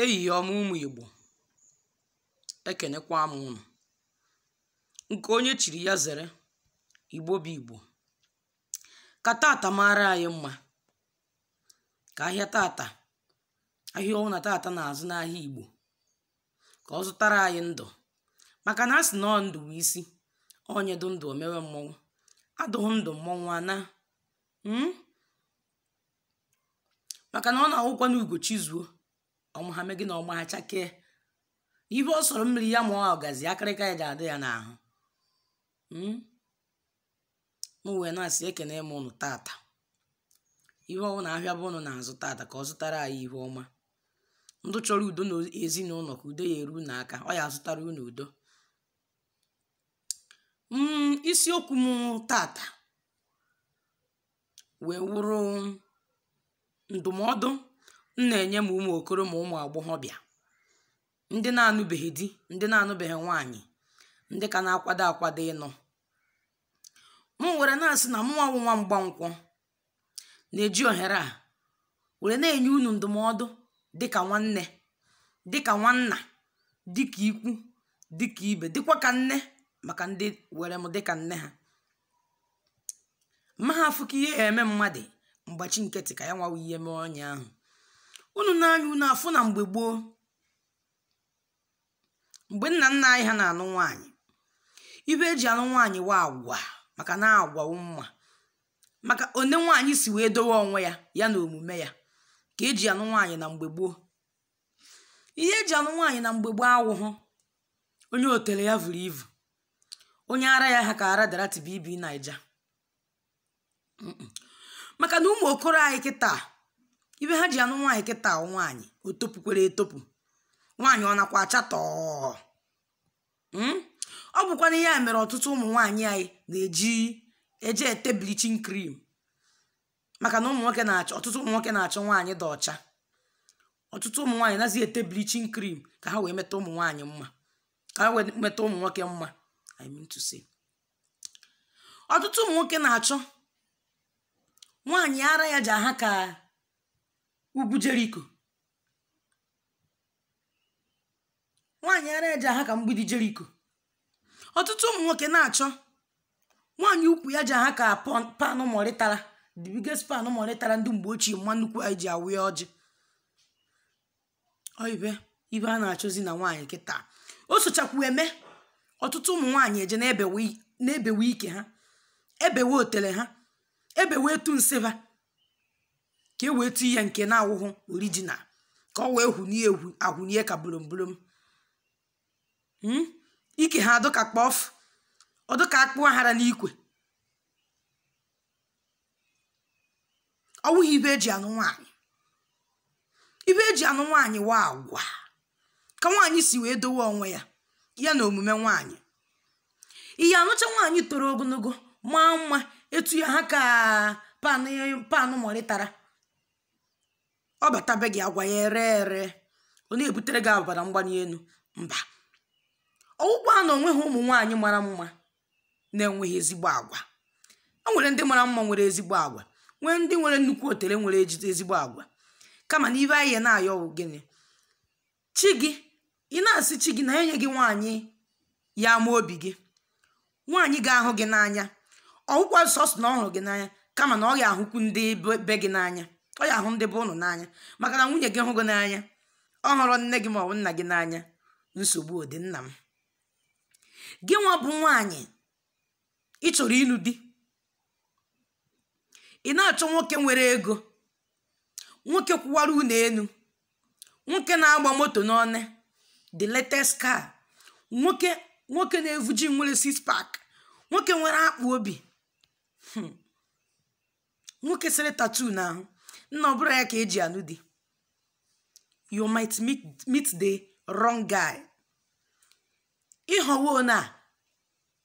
ehihie ọma ụmụ igbo ekenekwa m ụnụ nke onye chiri ya zere igbo bụ igbo ka tata mara anyị mma ka ahịa tata ahịa ọ wụna tata na-azụ n'ahịa igbo ka ọ zụtara anyị ndụ maka na a sị na ọ ndụ wụ isi onye dụ ndụ o mewe mmọnwụ adụghị ndụ mmọnwụ ana maka na ọ na-awụkwa na ugo chizuo ọmụ ha mee gịnị ọmụ ha chakee ihe ọ sọrọ mmiri ya maa ọgazi akịrịka ya ja-adị ya n'ahụ m wee na-asị ekene m ụnụ tata ihe ọ wụna ahịa bụ ụnụ na-azụ tata ka ọ zụtara anyị ihe ọma ndị chọrọ udo na ezinụlọ ka udo ya eru unu aka ọ ya azụtara unu udo isiokwu m tata wee wụrụ ndụmọdụ m na-enye ma ụmụ okoro ma ụmụ agbọghọbịa ndị na-anụbeghị di ndị na-anụbeghị nwaanyị ndị ka na-akwado akwado ịnụ m were na-asị na mụnwa wụ nwa mgbankwọ na-eji ohere a were na-enye unu ndụmọdụ dịka nwanne dịka nwanna dịka ikwu dịka ibe dịkwa ka nne maka ndị were m dịka nne ha ma ha afụ ka ihe ya eme mmadụ m gbachi nkịtị ka ya nwawa ihe mee onye ahụ unu nee anya unu afụ na mgbe gboo mgbe nna nna anyị ha na-anụ nwaanyị ihe eji anụ nwaanyị wụ agwa maka na agwa wụ mma maka onye nwaanyị si wee dowe onwe ya ya na omume ya ka eji anụ nwaanyị na mgbe gboo ihe eji anụ nwaanyị na mgbe gboo awụhụ onye otele ya vuru ivu onye ara ya ha ka ara dorathy bb naija maka na ụmụ okoro anyị kịta ihe ha ji anụ nwaanyị kịta nwaanyị o topukwere etopu nwaanyị ọ nakwa acha tọọ hmm? ọ bụkwanụ ya mere ọtụtụ ụmụ nwaanyị anyị na-eji eje ete bleaching cream maka na ụmụ nwoke na-achọ ọtụtụ ụmụ nwoke na-achọ nwaanyị dị ọcha ọtụtụ ụmụ nwaanyị nazi ete bleaching cream ka ha wee meta ụmụ nwaanyị mma ka ha wee meta ụmụ nwoke mma I mean to say ọtụtụ ụmụ nwoke na-achọ nwaanyị ara ya ja-aha ka ugwu jeriko nwaanyị ara ya ja-aha ka mgbidi jeriko ọtụtụ ụmụ nwoke na-achọ nwaanyị ukwu ya ja-aha ka pọn- panụ mọrịtara the biggest panụ mọrịtara ndị mgbe ochie mma nnukwu anyị ji awụ ya ọjị Ọ ibe ibe a na-achọzi na nwaanyị kịta o sochakwu eme ọtụtụ ụmụ nwaanyị eji na-ebewe i- na-ebewe ike ha ebewe otele ha ebewe etu nsị ha ka e wee tuye nke na-awụhụ original ka ọ wee hụnie egwu ahụnie ka bulombolom Mm? ike ha adụ ka kpọf ọ dụ ka akpụ a hara n'ikwe ọ wụghị ibe eji anụ nwaanyị ibe eji anụ nwaanyị wụ agwa ka nwaanyị si wee dowe onwe ya ya na omume nwaanyị ị ya-anụcha nwaanyị toro ogonogo maa mma etu ya ha ka panụ mọrị tara ọ bata be gị agwa ya ere ere ọ na-ebutere gị ọbara mgbani enu mba ọ wụkwa na o nweghị ụmụ nwaanyị mara mma na-enweghị ezigbo agwa e nwere ndị mara mma nwere ezigbo agwa nwee ndị nwere nnukwu otele nwere ejide ezigbo agwa kama na ibe anyị na-ayọ bụ gịnị chi gị ị na-asị chi gị na enye gị nwaanyị ya-ama obi gị nwaanyị ga-ahụ gị n'anya ọ wụkwa sọsọ na ọ hụrụ gị n'anya kama na ọ ya ahụkwu ndị be gị n'anya ọ ya ahụ ndị be unu n'anya maka na nwunye gị hụ gị n'anya ọ hụrọ nne gị ma ọ wụ nna gị n'anya nsogbu dị nna m gị nwa bụ nwaanyị ị chọrọ ịnụ di ị na-achọ nwoke nwere ego nwoke kwụwara ụnọ enu nwoke na-agba moto n'ọnụ the latest car nwoke nwoke na-evu gym nwere six pack nwoke nwere akpụ obi hmm. nwoke sere tattoo n'ahụ nna ọ bụrụ ya ka eji anụ di you might meet, meet the wrong guy ị họwo na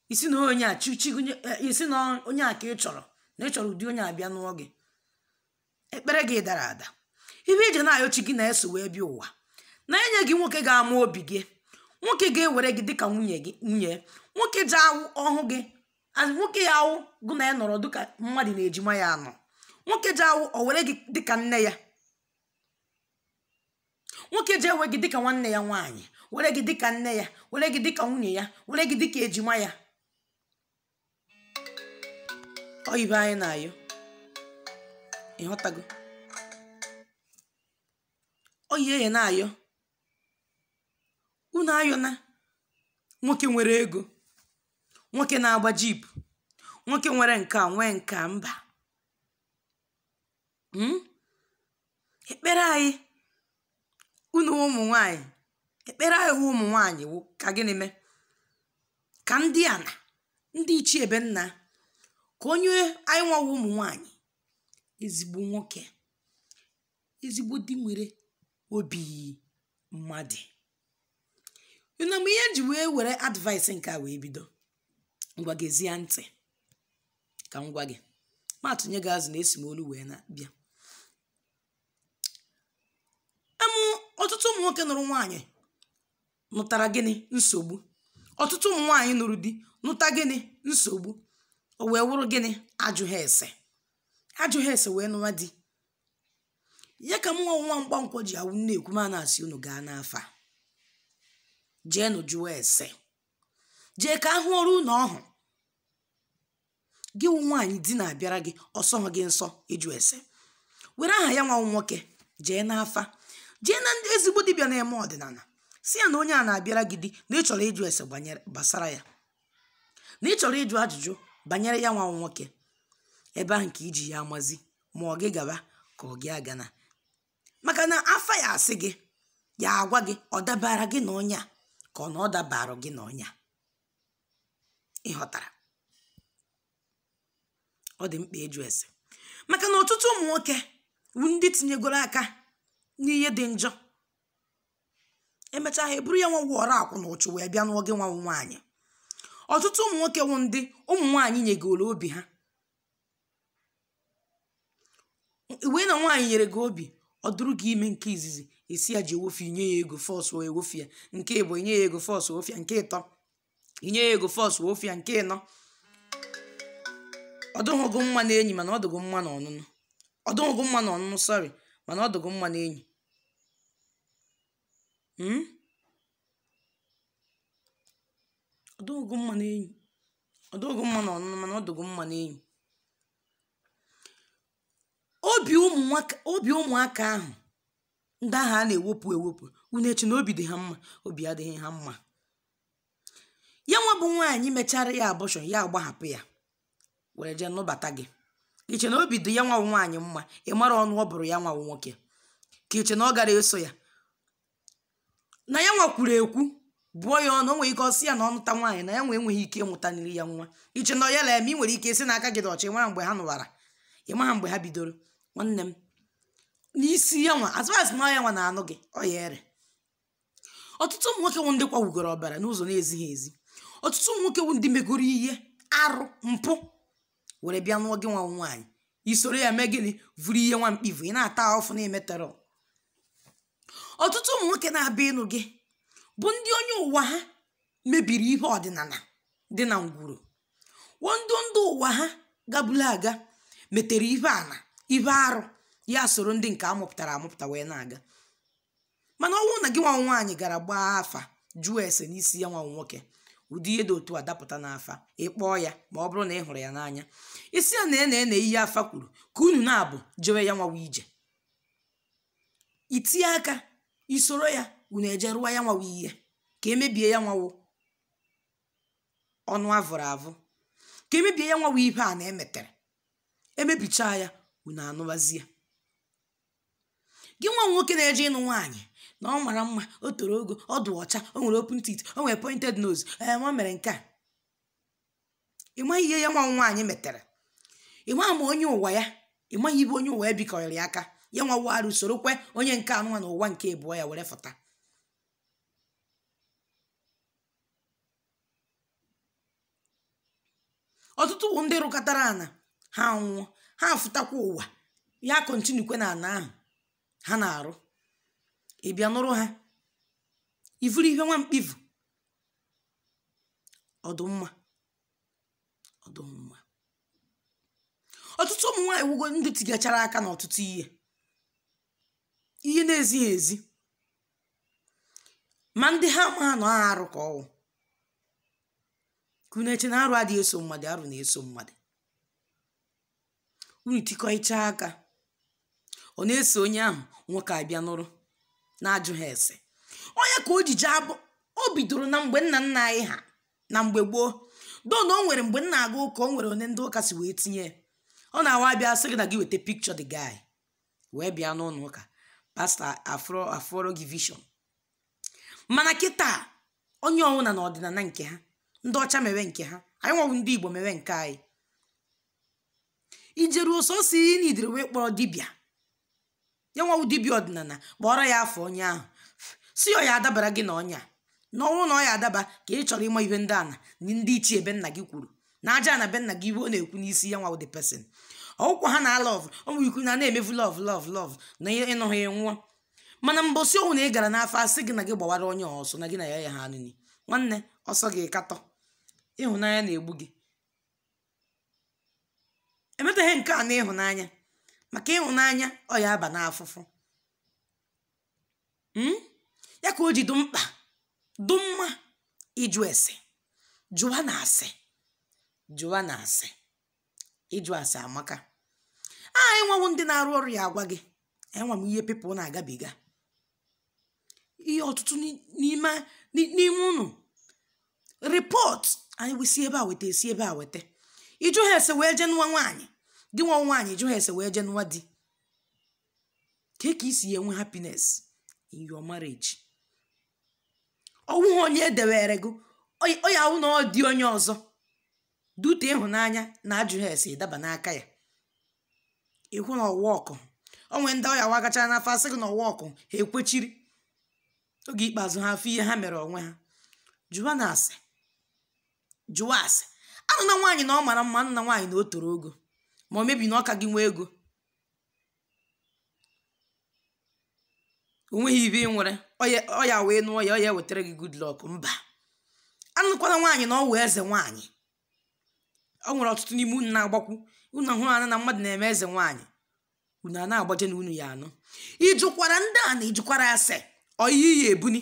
ị sị na onye a chi gị nye- eh, ị sị na onye a ka ị chọrọ na ị chọrọ ụdị onye a bịa n'ụọ gị ekpere gị dara ada ibe ị je na-ayọ chi gị na-eso wee bịa ụwa na enye gị nwoke ga-ama obi gị nwoke ga-ewere gị dịka nwunye gị nwunye nwoke ji awụ ọ hụ gị as nwoke ya-awụ gụ na ya nọrọ dịka mmadụ na ejima ya anọ nwoke ji awụ o were gị dịka nne ya nwoke ji ewe gị dịka nwanne ya nwaanyị were gị dịka nne ya were gị dịka nwunye ya were gị dịka ejima ya ọ ibe anyị na-ayọ ịghọtago ọ ihe anyị na-ayọ unu ayọna nwoke nwere ego nwoke na-agba jeep nwoke nwere nke a nwee nke a mba Mm? ekpere anyị unu ụmụ nwanyị ekpere anyị wụ ụmụ nwanyị wụ ka gịnị mee ka ndị ana ndị ichie be nna ka o nye anyị nwa wụ ụmụ nwanyị ezigbo nwoke ezigbo di nwere obi mmadụ na mgbe ihe ji wee were advice nke a wee bido ngwa gezie ntị ka m gwa gị ma atụnye gị azụ na esi m olu wee bịa amụ ọtụtụ ụmụ nwoke nụrụ nwaanyị nụtara gịnị nsogbu ọtụtụ ụmụ nwaanyị nụrụ di nụta gịnị nsogbu o wee wụrụ gịnị ajụghị ese ajụghị ese wee nụwa di ya ka mụnwa nwa mgbankwọ ji a wụ m na-ekwu m na-asị unu gaa n'afa jeenụ jụọ ese jee ka a hụọrọ unu ọ wụ gị wụ nwaanyị di na-abịara gị ọ sọghị gị nsọ ịjụ ese were aha ya nwa nwoke jee n'afa jee na ndị ezigbo dibịa na-eme ọdịnala sị ya na onye a na-abịara gị di na ị chọrọ ịjụ ese gbanyere- gbasara ya na ị chọrọ ịjụ ajụjụ banyere ya nwa nwoke ebe ahụ ka i ji ya amazi ma ọ gị gaba ka ọ gị agana maka na afa ya asị gị ya agwa gị ọ dabara gị na onye a ka ọ na ọ dabara gị na onye a ị ghọtara ọ dị mkpa ịjụ ese maka na ọtụtụ ụmụ nwoke wụ ndị tinyegoro aka n'ihe dị njọ emechaa ha eburu ya nwa wụ ọrakwu na ụchụ wee bịa nụọ gị nwa wụ nwaanyị ọtụtụ ụmụ nwoke wụ ndị ụmụ nwaanyị nyegoro obi ha wee na nwaanyị nyere gị obi ọ dụrụ gị ime nke izizi ị sị ya jee wofi ya i nye ya ego force e wofi ya nke ịbọ i nye ya ego force wofi ya nke ịtọ i nye ya ego force wofi ya nke ịnọ ọ dụghị gị mma na enyi mana ọ dụ gị mma na ọnụnụ ọ dụghị gị mma na ọnụnụ sorry mana ọ dụ gị mma na enyi Hmm? ọ dụ gị mma n'enyi ọ dụghị mma na ọnụnụ mana ọ dụ gị mma n'enyi obi ụmụ nwaka- obi ụmụaka ahụ ndị ahụ a na-ewepụ ewepụ unu eche na obi dị ha mma obi adịghị ha mma ya nwa bụ nwaanyị mechara ya abortion ya agbahapụ ya were jee nụbata gị ka i che na obi dị ya nwa wụ nwaanyị mma ị mara ọnụ ọ bụrụ ya nwa wụ nwoke ka i che na ọ gara eso ya na ya nwa kwuru ekwu bụọ ya ọnụ o nwere ike ọ sị ya na ọ nụta nwaanyị na ya nwa enweghị ike ịmụtara ya nwa i che na ọ ya la eme i nwere ike sị na aka gị dị ọcha ị maha mgbe ha nụwara ị maha mgbe ha bidoro nwanne m n'isi ya nwa as far as na ọ ya nwa na-anụ gị ọ ya-ere ọtụtụ ụmụ nwoke wụ ndị kwawugoro ọbara n'ụzọ na-ezighị ezi ọtụtụ ụmụ nwoke wụ ndị megoro ihe arụ mpụ were bịa nụọ gị nwa nwaanyị i soro ya mee gịnị vuru ihe nwa mkpi vu ị na-ata ọfụ na-emetọrọ ọtụtụ ụmụ nwoke na-abịa ịnụ gị bụ ndị onye ụwa ha mebiri ihe ọdịnana dị na ngwuru wo ndị ndị ụwa ha gabula aga metere ihe ana ihe arụ ya soro ndị nke a mụpụtara amụpụta wee na-aga mana ọ wụ na gị nwa wụ nwaanyị gara gbaa afa jụọ ese n'isi ya nwa wụ nwoke ụdị ihe dị otu a dapụta n'afa ị kpọọ ya ma ọ bụrụ na ị hụrụ ya n'anya ị sị ya na nee nee ihe afa kwuru ka unu naabọ jewe ya nwa wụ ije i tinye aka i soro ya unu eje rụwa ya nwa wụ ihe ka e mebie ya nwa wụ ọnụ a vụrụ avụ ka e mebie ya nwa wụ ihe ana e metere e mebichaa ya unu anụwazie gị nwa wụ nwoke na-eje ịnụ nwaanyị na ọ mara mma o toro ogo ọ dị ọcha o nwere open teeth o nwere pointed nose ee nwa mere nke a ị maghị ihe ya nwa wụ nwaanyị metere ị maghị ma onye ụwa ya ị maghị ibe onye ụwa ya bikọrịrị aka ya nwa wụ arụ sorokwe onye nke anụnwa na ụwa nke abụọ ya were fụta ọtụtụ bụ ndị rụkatara ana ha nwụọ ha afụtakwa ụwa ya continuekwe na ana ahụ ha na-arụ ị bịa nụrụ ha i vuru ihe nwa mkpi vu ọ dụ mma ọ dụ mma ọtụtụ ụmụ nwaanyị wụgo ndị tigachara aka n'ọtụtụ ihe ihe na-ezighị ezi ma ndị ha ma na ọ ha arụ ka ọ wụ ka unu eche na arụ adịghị eso mmadụ arụ na-eso mmadụ unu tikọcha aka ọ na-eso onye ahụ nwoke abịa nụrụ na-ajụha ese onye ka o ji jee abụ o bidoro na mgbe nna nna anyị ha na mgbe gboo do na o nwere mgbe m na-aga ụka o nwere onye ndị ụka si wee tinye ya. ọ na-awa abịa sị gị na gị weta picture the guy wee bịa n'ụlọ ụka pastor afụọrọ gị vision mana kịta onye ọwụna na ọdịnana nke ha ndị ọcha mewe nke ha anyị nwa wụ ndị igbo mewe nke anyị i jeru ọsọsọ immediately wee kpọrọ dibịa ya nwa wụ dibịa ọdịnana kpọọrọ ya afa onye ahụ sị ọ ya adabara gị na ọ ya na ọ wụ na ọ ya adaba ka ị chọrọ ịma ihe ndị ana na ndị ichie be nna gị kwuru na aja ana be nna gị ihe ọ na-ekwu n'isi ya nwa wụ the person ọ wụkwaha na love o nwere ikwu na a na-emefu love love love na ihe ịnụ ha enwụọ mana mbọsị ọwụna ị gara n'afa a sị gị na gị gbawara onye ọsọ na gị na ya ya ha anụnyi nwanne ọ sọ gị katọ ịhụnanya na-egbu gị emetaghị nke a na ịhụnanya maka ịhụnanya ọ ya aba n'afụfụ hmm? ya ka o ji dụ mkpa dụ mma ịjụ ese jụwanụ ase jụwanụ ase ịjụ ase amaka anyị nwa wụ ndị na-arụ ọrụ ya agwa gị nwa m ihe people na-agabiga ihe ọtụtụ n'ime n'ime unu report anyị wee si ebe a weta e si ebe a weta ị jụha ese wee jee nụwa nwaanyị gị nwa nwaanyị jụha ese wee jee nụwa di kee ka i si enwe happiness in your marriage ọ wụghị onye edewere gị ọ ya awụ na ọ di onye ọzọ dute ịhụnanya na ajụghị ase daba n'aka ya ị hụ na ọ wụ ọkụ o nwe ndị ọ ya awụ agachaa n'afa asị gị na ọ wụ ọkụ ha ekwechiri oge ikpeazụ ha afụ ihe ha mere onwe ha jụwanụ ase jụwa ase anụna nwaanyị na ọ mara mma anụna nwaanyị na o toro ogo ma ọ bụ na ọ ka gị nwee ego o nweghị ihe ị nwere ọ ya awụ ị nụọ ya ọ ya wetara gị good luck mba anụkwala nwaanyị na ọ wụ eze nwaanyị o nwere ọtụtụ n'ime unu na-agbakwu unu hụrụ anya na mmadụ na-eme eze nwaanyị unu a na-agbaje na unu ya anụ ị jụkwara ndị a na ị jụkwara ase ọ ihe ị ya ebuni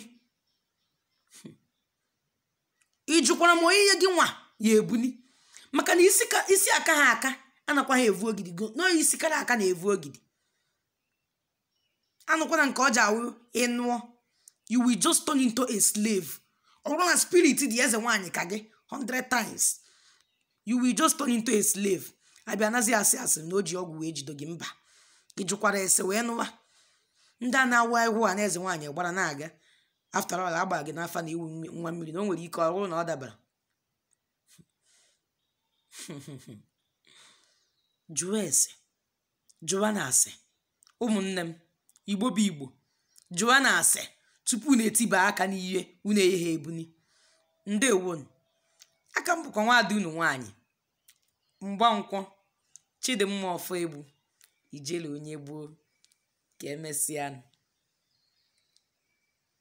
ị jụkwara ma ọ ihe gị nwa ya ebuni maka na isi ka isi akaha aka anakwaghị evu ogidi go nọọ isi kara aka na-evu ogidi anụkwana nke ọ ya awụ ị nụọ you will just turn into a slave ọ bụrụ na spirit dị eze nwaanyị ka gị 100 times you will just turn into a slave a bịa nazị asị asị na o ji ọgwụ wee jido gị mba ị jụkwara ese wee nụwa ndị a na-awụ ahụhụ a na eze nwaanyị gbara na-aga after all agba gị n'afa na ị wụ mmi- nwa mmiri na o nwere ike ọ wụrụ na ọ dabara jụwa ese jụwanụ ase ụmụnne m igbo bụ igbo jụwanụ ase tupu unu etiba aka n'ihe unu ayaha ebuni ndewonụ a ka m bụkwa nwaada unu nwaanyị mgbankwọ chidimma ọfọegbu ijele onye gboo ka emesịanụ